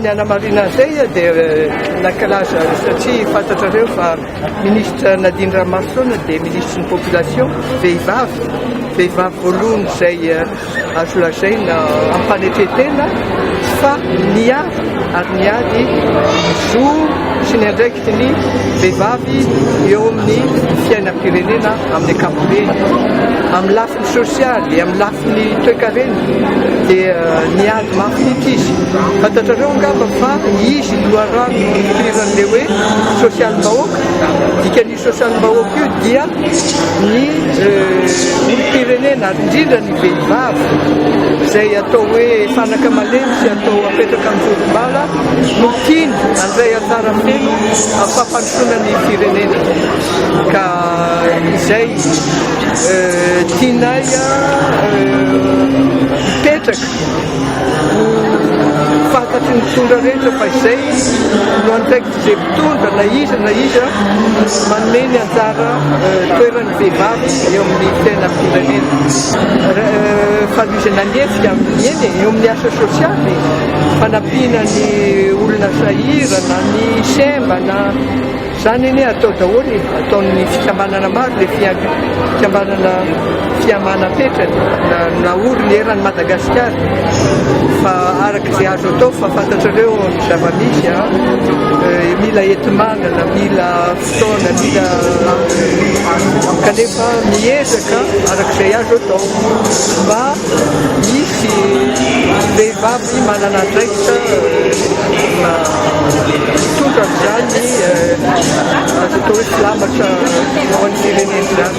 Ny hanamarina an'izay dia nankalaza satria fantatrareo fa ministra Nadine Ramason dia ministry ny population vehivavy vehivavy voalohany izay eh, azo lazaina ampanetretena fa niady ary niady zo sy ny andraikitry ny vehivavy eo amin'ny fiainam-pirenena amin'ny ankapobeny amin'ny lafiny sosialy, amin'ny lafiny toekarena dia niady mafy mihitsy izy. Fantatrareo angamba fa izy no loharano nonofiriran'ilay hoe sosialim-bahoaka. Dikan'io sosialim-bahoaka io dia ny olom-pirenena ary indrindra ny vehivavy izay atao hoe fanaka malemy sy atao apetraka amin'ny volombala no tiany handray anjara miteny amin'ny fampandrosoana ny firenena. ka izay tianay hipetraka ho fantatry ny mpitondra rehetra fa izay no andraikitr'izay mpitondra na iza na iza manome ny anjara toeran'ny vehivavy eo amin'ny fiainam-pirenena fanovizana ny hetsika amin'ny eny eo amin'ny asa sosialy fanampiana ny olona sahirana ny semba na Izany anie atao daholo e, ataon'ny fikambanana maro le fikambanana fihamanam-petrany na naory ny eran'i Madagasikara fa araka izay azo atao fa fantatrareo ny zava-misy a, eh, mila enti-manana, mila fotoana, mila kanefa miezaka araka izay azo atao mba hisy Tsy vehivavy manana andraikitra hitondra izany azo atao hoe filamatra ho an'ny firenena izany.